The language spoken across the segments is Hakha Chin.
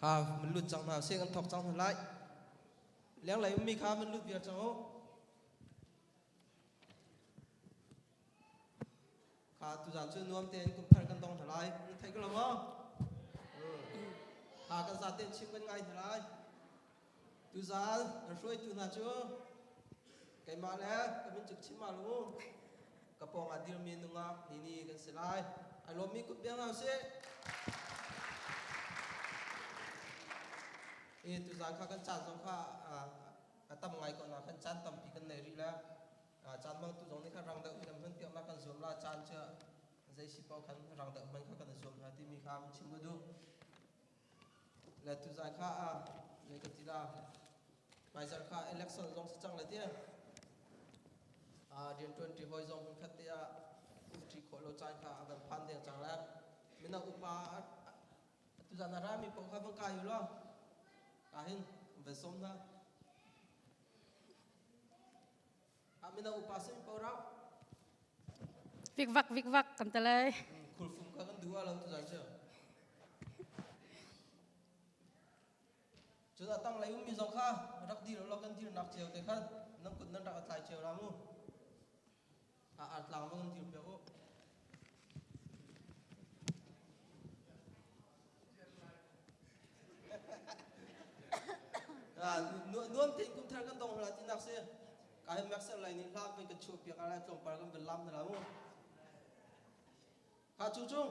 kha man lut cang hna sih kan thok cang hna lai liang lei ummi kha man lut viar cang u Ka tuzaan cu nuam tein kumthar kan dong hna lai. Theih ko lo maw? Ha kan za tein chim kan ngai hna lai. Tuzaan kan hruaitu hna cu keimah le ka mincuk chim ma lu ka pawng ah dirmi nungak ni ni kan si lai. Ai lawmmi kut biang hna usih. I tuzaan kha kan caan zong kha a tam ngai ko na kan caan tampi kan nei rih le caan mang tu zong nih khan rang deuh hin hman tiah kan zuam ra caan cu zei si paoh khan rang deuh hman kha kan i zuam ra timi kha mun chim ka duh le tu zai kha a le ka ti la maizar kha election zong si cang le tia a rian tuanti hoi zong mun khat te a uti kholo lo caan kha a kan phan de chang la mina upa tu zan ra mi paoh kha kan kai lo ka hin ve som na Vikvak vikvak kan te lai. Khurfum ka kan duwa lo tu zai che. Cu da tang lai um mi zong kha rak dir lo kan dir nak cheu te kha nan kut nan rak atlai cheu la mu. a artlang lung dir pe u. nuam tein kum thar kan dong hla ti nak si ka he mek ser lai ni hla ben ka chu piak ala tlongpar kan ben lam na la mu ha chu chung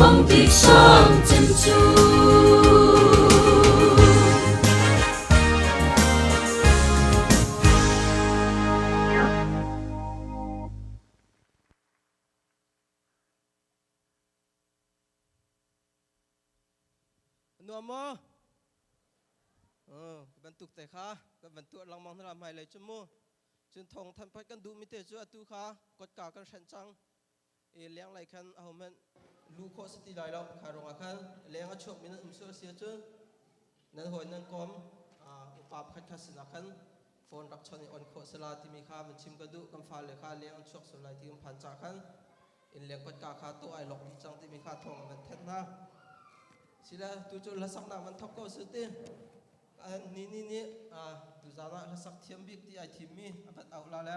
Mangtip sang cem cu. Nuam maw? Oh, bantuk te kha kan bantuat langmang na lam hai lei chu mu. Cun thong than phat kan duh mi te cu atu kha kotka kan hran cang. i lenglei khan ahohmanh lu khawh si ti lai lo kha ruangah khan leng a chuakmi nan um sual si ahcun nan hawi nan kawm upa pakhat kha sinah khan phone rak chon i on khawh sala timi kha van chim ka duh kan fale kha leng an chuak sual lai ti um phan ca khan in leng kotka kha tuah ai lok dih cang timi kha thawng van then hna sila tu cu hlasaknak man thok ko su ti ni ni ni tu zan ah hlasak thiam bik ti ai thimmi avat au la le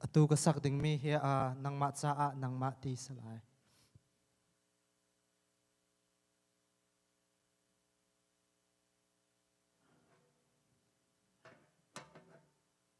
Atu ka sak dingmi hi uh, nangmah caah nangmah ti si lai.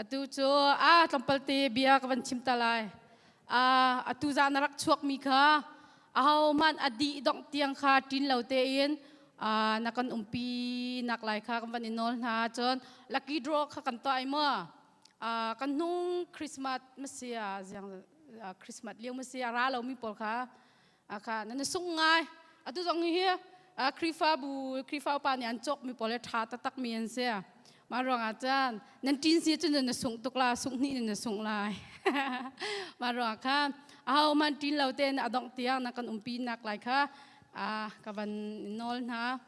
Atu cu a tlawmpal te bia ka van chim ta lai. atu zah na rak chuakmi kha aho hmanh a dih dongh tiang kha ṭin lo tein na kan umpi nak lai kha kan van i nawl hna cun lucky draw kha kan tuah ai mu kan hnung christmas masi a ziang christmas lio masi a ra lomi pawl kha akha nan sung ngai atu zong hi Krifabu Krifaupa nih an cawk mi pawl tha taktak mi an si mah ruangah cun nan tin si cun na sungh tuk la sungh hnih na sungh lai mah ruangah khan aho man tin lo te na adongh tiang na kan umpi nak lai kha ka van nawl hna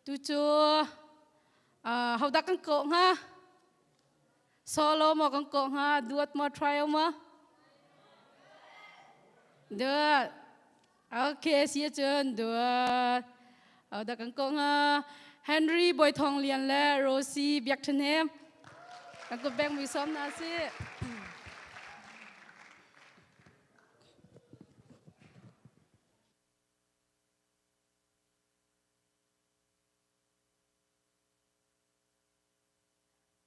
tu cu hodah kan kawh hnga solo mo kan ko nga duat mo try ma duat okay si chun duat au da kan ko nga Henry Boy Thong Lian le Rosie Biak Than he kan ko beng mi som na si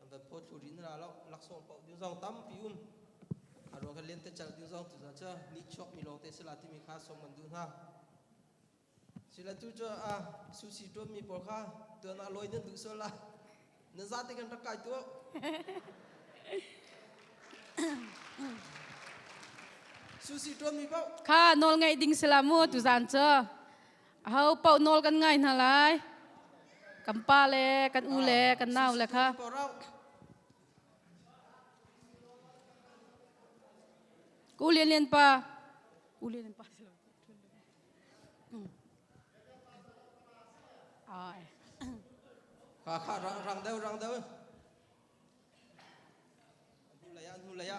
an kan tho thlu rin ra lo laksawng pau diu zau tam pi um arwa kan len te chal diu zau tu za cha ni chok mi lo te sela ti mi kha som man du na sila tu cho a susi tom mi por kha tu na loi nan du so la na za te kan rak kai tu susi tom mi bao kha nol ngai ding sela mu tu zan cho Ho paoh nawl kan ngai hna lai. Kan pa le, kan u le, kan nau le kha. U Lian Lian pa. U Lian Lian pa. Ai. Kha kha rang rang deu rang deu. Nu laya nu laya.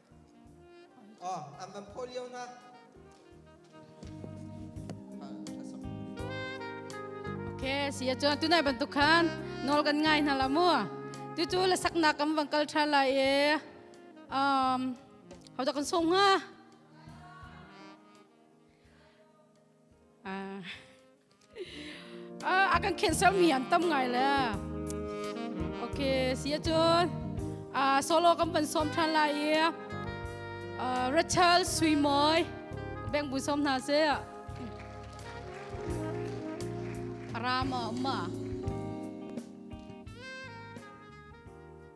Oh, an man phaw lio na. Okay, siya chuan tunai bantuk khan nol kan ngai hna la mu. Tu chu la sakna kam bang kal tha lai e. Um, hau da kan som nga. Ah. a kan khenh sermi an tam ngai le ok siya cun solo kan pan som ṭhan lai i Rachel Suimoy beng bu som hna se rama ma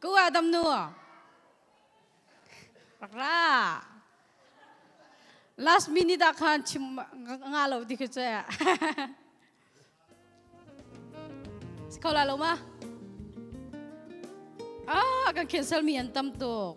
Ku ah dam nu rak ra last minute ah khan chim nga lo ti khi cu si kho la lo ma ah kan cancel mi an tam tuk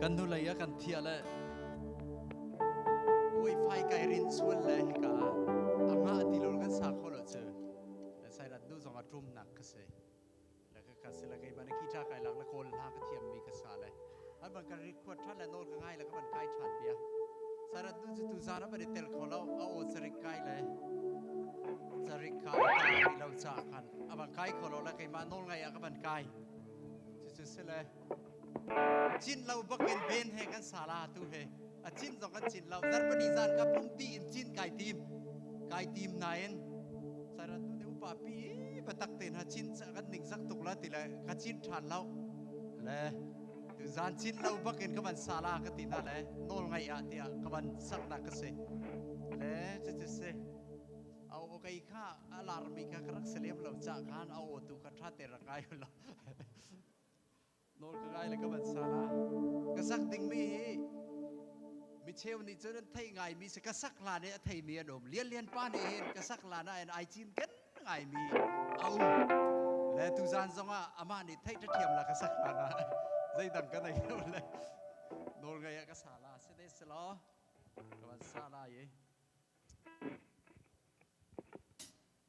kan hnulei a kan thiah le puai fai kai rin sual le hika ah a ngah ti lul kan sa kho lo cu le sairat nu zong a ṭum nak ka si le ka ka sila kei ban ki tha kai lak la kawl hla ka thiam mi ka sa le an ban ka ri khuat than le nol ka ngai la ka ban kai than bia sarat nu chu tu zara ba de tel kho lo a o sarik kai le sarik kai ta ri lo cha khan a ban kai kho lo la kei ma nol ngai a ka ban kai chu chu sile Cin lo bakin ven he kan sal ah tu he a cin zong kan cin lo zarpani zan ka pumpi in cin kai tim kai tim nain sarat nu te upa pi batak te na cin kan ning sak tuk la ti le ka cin than lo le tu zan cin lo bakin ka ban sala ka ti na le nol ngai a tiah ka ban sak na ka se le che che se au kai kha alarmi ka karak selem lo cha khan au tu ka tha te ra kai lo Nawl ka ngai le ka van sa la. Ka sak dingmi hi micheu nih cun an theih ngaimi si ka sak hlan i a theimi an um. Lian Lian pa nih hin ka sak hlan ah in ai cin kan ngaimi a um. Le tuzan zongah amah nih theih ṭhathiam la ka sak hlan ah zeidang ka nei lo le nawl ngei ah ka sa la si ne si law ka van sa la ye.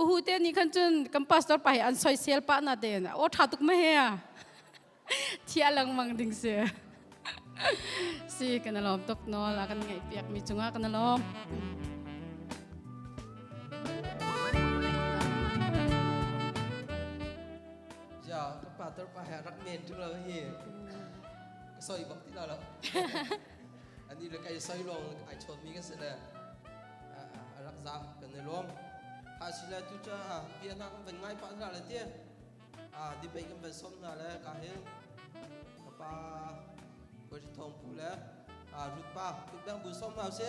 uhu te ni khan cun kan pastor pa hi an soisel pa na ten o tha tuk ma he thia langmang ding se si kan lom tuk no la kan ngai piak mi chunga kan lom ya kan pastor pa ha rak men tu lo hi soi bak ti lo lo an i le kaisai lawng ai chawnmi ka si le a rak za kan i lawm thasila tu ca bia na kan van ngai pa na le tie debate kan van som na le ka hin ka pa ko thong pu le rut pa tu bang bu som hau se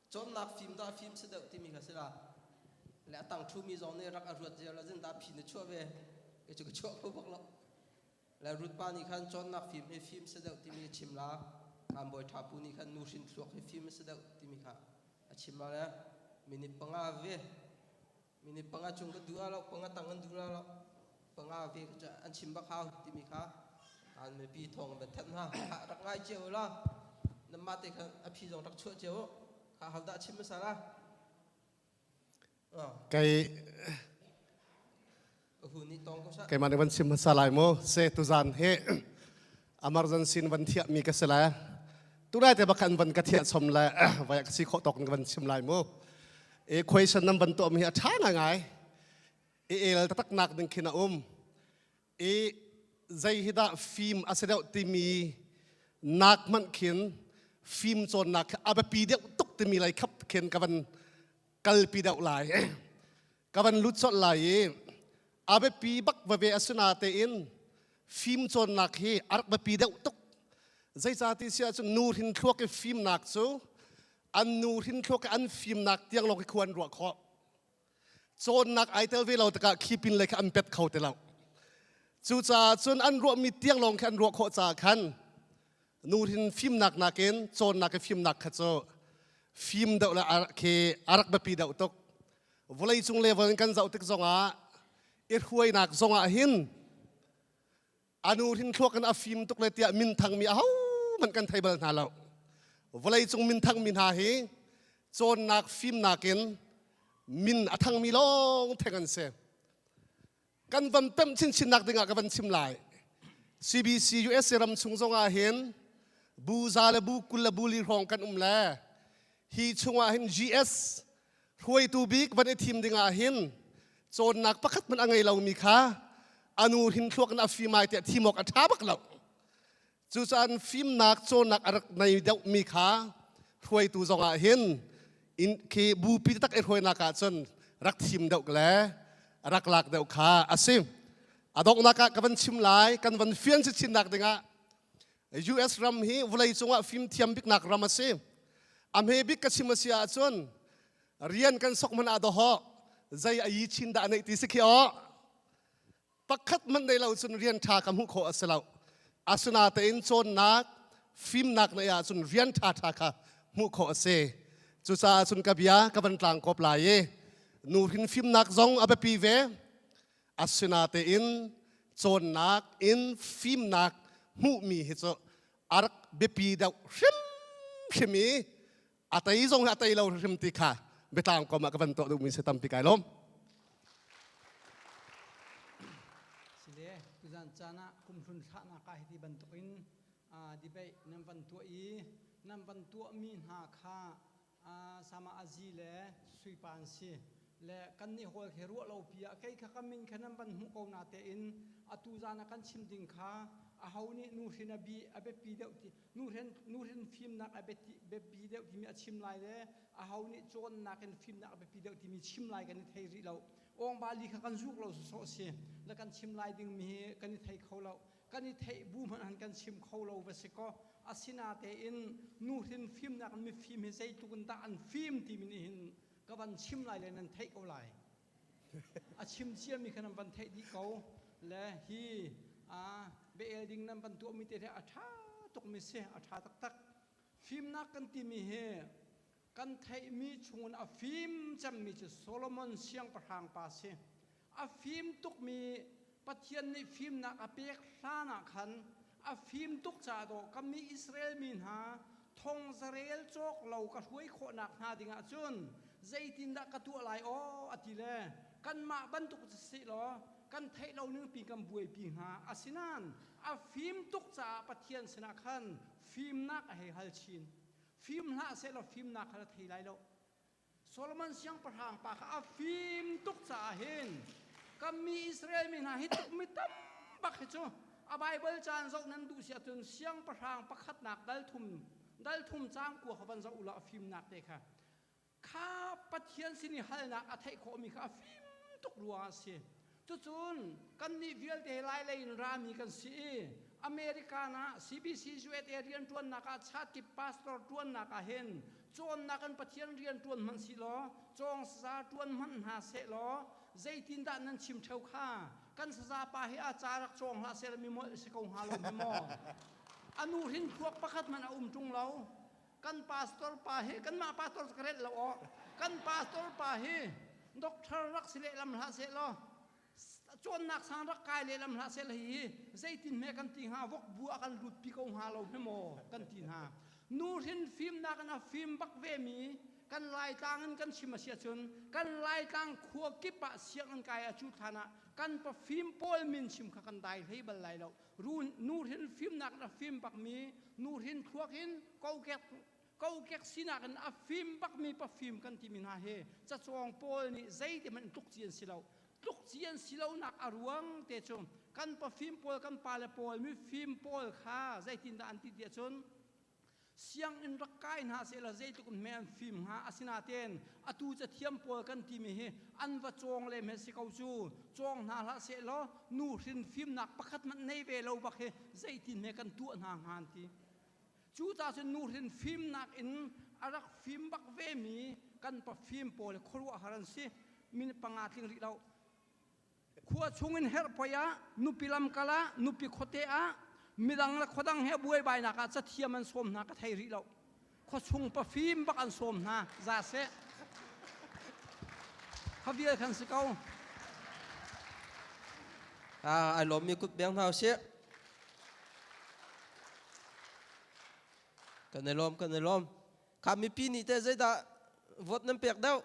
cawnnak fim dah fim si deuh timi kha si la le a tang thumi zong nih rak a ruat ziar la zin da phi na chuah ve e cu ka chuah kho bak lo le rut pa nih khan cawnnak fim hi fim si deuh timi chim la am boi tha pu nih khan nu hrin thluak hi fim si deuh timi kha a chim ma le minute panga ve Minute panga chung kan duh lo, panga tang kan duh lo, panga ve an chim bak hau timi kha kan mipi thong ban that hna rak ngai cio la nan mah te khan a phi zong rak chuah cio kha hal dah chim masala kei keimah nih van sim hmasa lai mu se tuzan he emergency van thiah mi ka si lai tunai te bakhan van ka thiah som le vai ka si khawh tawk van sim lai mu e question nam ban to mi a tha ngai ngai e el tatak nak ding khin a um e zai hi da film asedeu timi nak man khin film chon nak abapi deu tuk timi lai khap khin ka van kalpi deu lai ka van lut colh lai i a biapi bak vave a si na tein fimcawnnak hi a rak biapi deuh tuk zeicati si ahcun nu hrin thluak i fimnak cu an nu hrin thluak i an fimnak tiang lawng hi khuan ruah khawh cawnnak ai tel ve lo tikah khi pin lei kha an pet kho ti lo cucaah cun an ruahmi tiang lawng khi an ruah khawh caah khan nu hrin fimnak nakin cawnnak i fimnak kha cu fim deuh le a khi a rak biapi deuh tuk vawleicung level in kan zoh tik zongah i hruainak zongah hin a nu hrin thluak in a fim tuk le tiah minthang mi ahohmanh kan thei bal hna lo vawleicung minthang mi hna hi cawnnak fimnak in min a thangmi lawng theng an si kan van pemh chinchinnak dingah ka van chim lai CBC USA ram chung zongah hin bu za le bu kul le bu li hrawng kan um le hi chungah hin GS hruaitu bik van i thim dingah hin cawnnak pakhat hmanh a ngei lomi kha anu hin thluak na afimai tiah thimawk a ṭha bak lo Cucaah fimnak cawnnak a rak nei deuhmi kha hruaitu zongah hin in khi bupi tak i hruainak ah cun rak thim deuh le rak lak deuh kha a si. A donghnak ah ka van chim lai kan van fian chinnak dingah US ram hi vawlei cungah fimthiam biknak ram a si. A hmebik ka chim a si ahcun rian kan sok man ah dawhawh zei a yi chin dah neih ti si khi awh. pakhat man nei lo cun rian ṭha ka hmuh khawh a si lo asinatein cawnnak fimnak nei ahcun rian ṭhaṭha kha hmuh khawh a si cucaah cun ka bia ka van tlang kop lai i nu hin fimnak zong a biapi ve asinatein cawnnak in fimnak hmuhmi hi cu a rak biapi deuh hrimhrim i a tei zong hi a tei lo hrim ti kha biatlang kom ah ka van tuah duhmi si tampi kai lawm sile tuzan caan ah kumhlun thlahnak ah hiti bantukin debate nan van tuah i nan van tuahmi hna kha sama azi le suipan si le kan nih hol he ruah lo pi ah kei kha ka min kha nan van hmuh ko na tein atu zan a kan chim ding kha a ho nih nu hrin a bi a biapi deuh ti nu hlen nu hlen fimnak a biati biapi deuh timi a chim lai le a ho nih cawnnak in fimnak a biapi deuh timi chim lai kan i thei rih lo ong bali kha kan zuk lo sawsawh a si la kan chim lai dingmi hi kan i thei kho lo kan i theih bu hmanh han kan chim kho lo va si kaw asinatein nu hrin fimnak in mifim hi zeitluk in dah an fim timi nih hin ka van chim lai le nan theih ko lai a chim ciami kha nan van theih dih ko le hi a bel ding nan van tuahmi te a ṭha tukmi si a ṭha taktak fimnak kan timi hi kan theihmi chungin a fim cemmi cu Solomon siangpahrang pa si a fim tukmi Pathian nih fimnak a pek hlanah khan a fim tuk caah dawh ka mi Israel mi hna thongzarel cawk lo ka hruai khawhnak hnga dingah cun zeitindah ka tuah lai aw a ti le kanmah bantuk si sih law kan theih lo ningpi kan buaipi hnga asinain a fim tuk caah Pathian sinah khan fimnak a hei hal chin fim hlah sehlaw fimnak kha a thei lai lo Solomon siangpahrang pa kha a fim tuk caah hin ka mi Israel mi hna hi tukmi tam bak hi cu a Baibal caan zoh nan duh si ahcun siangpahrang pakhatnak dalthum dalthum caang kua kha van zoh u law a fimnak te kha kha Pathian sin i halnak a theih khawhmi kha a fim tuk ruangah a si. Cucun kannih vialte Lailei in rami kan si i American ah CBCUSA rianṭuannak ah Chatkip pastor ṭuannak ah hin cawnnak in Pathian rian ṭuan hmanh si law cawngsaza ṭuan hmanh hna sehlaw zeitindah nan chim ṭheo kha kan sazapa he a ca rak cawng hlah seh mi mawlh si ko hnga lo mi maw? A nu hrin thluak pakhat hmanh a um ṭung lo. kan pastor pa hi kanmah pastor ka renh lo aw kan pastor pa hi doctor rak si lehlam hlah seh law cawnnak sang rak kai lehlam hlah seh hi zeitin hme kan ti hnga vok bu a kan lut pi ko hnga lo hme maw kan ti hna nu hrin fimnak in a fim bak ve mi kan laitlang in kan chim a sia cun kan laitlang khua kip ah sianginn kai a cu than ah kan pa fim pawl min chim kha kan dai hlei bal lai lo Run nuhrin fimnak in a fim bakmi, nuhrin thluak in kokek kokek sinak in a fim bakmi pafim kan timi hna hi cacawng pawl nih zeitihmanh in tlukci an si lo. Tlukci an si lonak a ruang te cu kan pafim pawl, kan pale pawl, mifim pawl kha zeitindah an ti ti ahcun sianginn rak kai hna sehla zeitluk in me an fim hnga asinaten atu cathiam pawl kan timi hi an va cawng le me si ko cu cawng hna hlah seh law nu hrin fimnak pakhat man nei ve lo bak hi zeitin me kan tuah hna hnga an ti cu ta cun nu hrin fimnak in a rak fim bak ve mi kan pa fim pawl khuaruahhar an si minute panga tling rih loh khua chungin herh poi ah nupi lamkal ah nupi khuate ah midang le khuadang he buaibainak ah cathiam an sawm hna ka thei rih lo khua chung pafim bak an sawm hna za seh kha vial kan si ko ah ai lawm mi kut beng hna usih kan i lawm kan i lawm kha mipi nih te zeidah vote nan pek deuh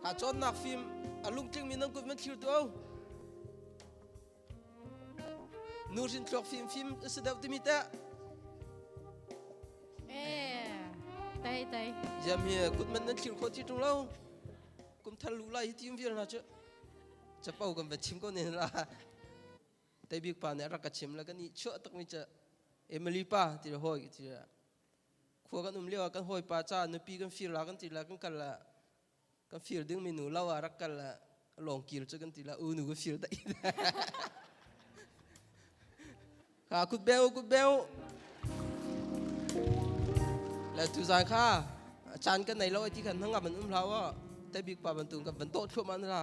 Ha cawnnak fim a lungtlingmi nan kut van thlir tuah. Nuhrin thluak fim fim si deuh timi teh. Eh, tai tai. Jam hi kut man nan thlir kho ti tung lo. Kum thar lu lai hi tim vial na chu. Chapo kan va chim ko ne la. Teibik pa nih a rak ka chim la kan i chuah takmi cu Emily pa ti le hawi ti le khua kan um lio ah kan hawi pa ca nupi kan fir la kan ti la kan kal la kan fir dingmi nu lo ah rak kal la lawng kil cu kan ti la u nu ka fir dai kha kut beu kut beu la tu zan kha chan kan nei lo ai ti khan hangam an um hlau o te bik pa bantung kan van to thluam an ra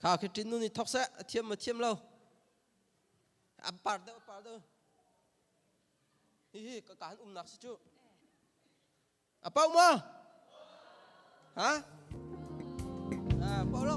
Kha khi ṭin nu nih thok seh, a thiam a thiam lo. A par deuh, a par deuh. Hihi ka kaan umnak si cu. A pau maw? Ha? Ah, pau lo.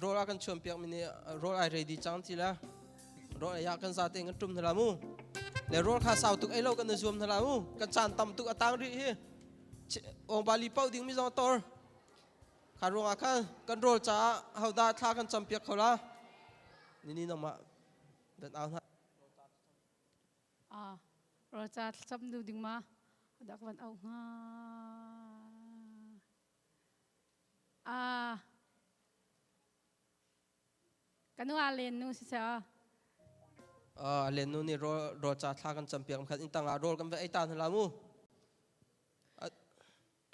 roll a kan chuan piak mi ni roll ai ready chang ti la roll ya kan za te ngan tum na la mu le roll kha sau tuk ai lo kan na zuam na la mu kan chan tam tuk atang ri hi ong bali pau ding mi zong tor Kha ruangah kha kan rawl caah hodah thla kan campiak kho la? Nini nangmah dat au hna. Ah, rawl ca thlacam du ding ma dak van au hnga. Ah, kanu a len nu si sa. Uh, len nu nih rawl rawl ca thla kan campiak khat in tangah rawl kan va ei ta hna la mu.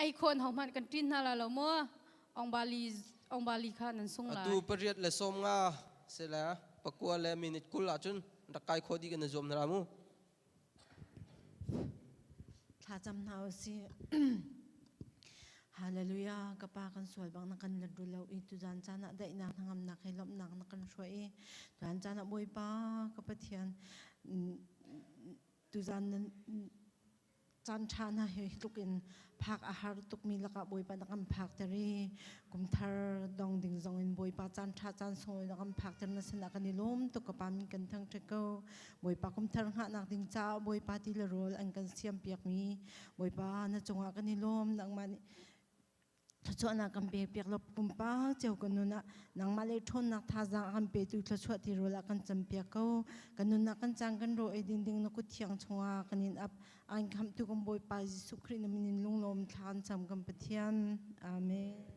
ei khon hong man kan tin hna la lo mo ong bali ong bali kha nan sung lai atu pariat le som nga se la pakua le minute kul ah chun rakai kho di kan zuam na ramu thla cham na si hallelujah ka pa kan sual bang na kan lat ru lo i tu zan chana dai na ngam na kai lom nak na kan shwa i tu zan chana boi pa ka pathian tu zan caanṭha hna hi tlukin phak a har tukmi lakah Bawipa na kan phakter i kumthar dong ding zongin Bawipa caanṭha caan sunglawi na kan phakter na sinah kan i lawm tuk ka pa min kan thangṭhat ko Bawipa kumthar hngahnak ding caah Bawipa ti le rawl an kan siampiakmi Bawipa na cungah kan i lawm nangmah nih thluachuahnak kan pe piak lo pumpa ceu kan nun ah nangmah le ṭhawnnak thazaang a kan petu thluachuah ti rul ah kan cam piak ko kan nun ah kan caan kan ro ei ding ding na kut thiang chungah kan in ap an khamtu kan bawipa Jesuh Khrih na min in lunglawm thla an cam kan Pathian amen